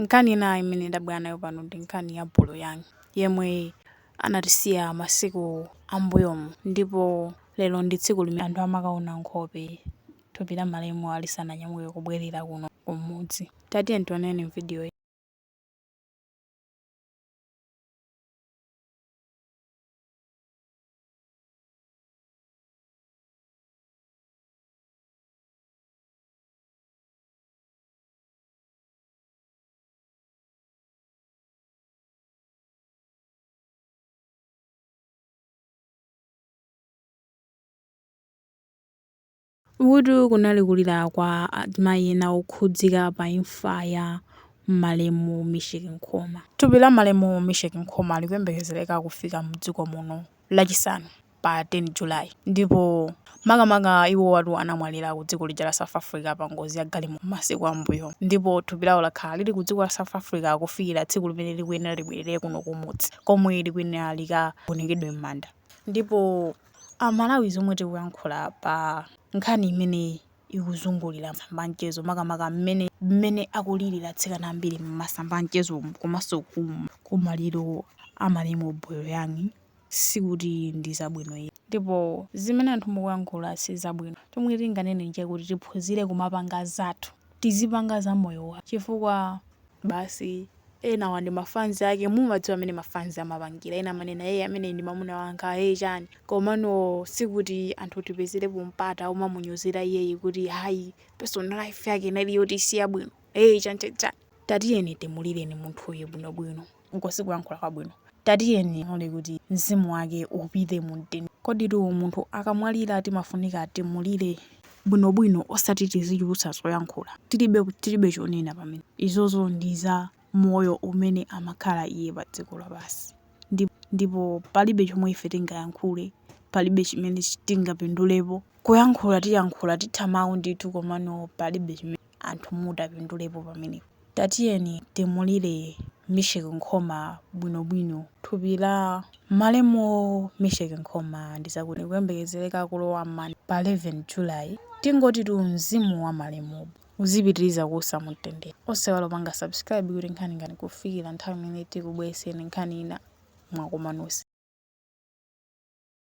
Nkhani ina imene ndabwera nayo pano ndi nkhani ya Bolo Young yemwe anatisiya masiku ambuyomu ndipo lero ndi tsiku limene anthu amakaona nkhope thupi la malemuwa lisananyamuke kubwerera kuno kumudzi. Tatiyeni tioneni m'vidiyoyi. Uku kunali kulira kwa azimayi ena okhudzika pa imfa ya malemu Misheck Nkhoma. Thupi la malemu Misheck Nkhoma likuyembekezereka kufika mdziko muno lachisanu. pa 10 July ndipo makamaka iwowatu anamwalira ku dziko lija la South Africa pa ngozi ya galimoto masiku a m'mbuyomu ndipo thupi lawo lakhala lili ku dziko la South Africa kufikira tsiku limene likuyenera libwerere kuno kumudzi komwe likuyenera likagonekedwe m'manda ndipo a Malawi zomwe tikuyankhula pa nkhani imene ikuzungulira masamba a mchezo makamaka mmene mmene akulilira atsikana ambiri m'masamba a mchezomu komanso ku maliro a malemu Boyo Young sikuti ndi zabwino iyayi. Ndipo zimene anthu mukuyankhula si zabwino. Chomwe tinganene n'chakuti tiphunzire kumapanga zathu. Tizipanga za moyo wathu chifukwa. basi. Enawa ndi ma fans ake, mumadziwa mmene ma fans amapangira. Ena amanena ee ameneyi ndi mamuna wanga, ee chani. Komano sikuti anthu tipezerepo mpata womamunyozera iyeyi kuti ayi personal life yake inali yoti si yabwino, ee chani chani chani. Tatiyeni timulireni munthuyu bwinobwino. Uko sikuyankhula kwabwino. Tatiyeni tilole kuti Mzimu Wake upite mu mtendere. Koditu munthu akamwalira timafunika timulire bwinobwino osati tizichulutsa zoyankhula tilibe chonena pamenepo. Izozo ndi za moyo umene amakhala iye pa dziko lapansi. Ndipo palibe chomwe ife tingayankhule, palibe chimene tingapindulepo. Kuyankhula tiyankhula, titha mau ndithu komano palibe chimene. anthu mutapindulepo pamenepo. Tatiyeni timulire Misheck Nkhoma bwinobwino. Thupi la malemu Misheck Nkhoma ndi zakuti likuyembekezereka kulowa m'manda pa 11 July. Tingotitu mzimu wa malemuyu uzipitiriza kuusa mu mtendere. Osaiwala kupanga subscribe kuti nkhani inga kufikira nthawi imene tikubweretsereni nkhani ina mwakoma nonse.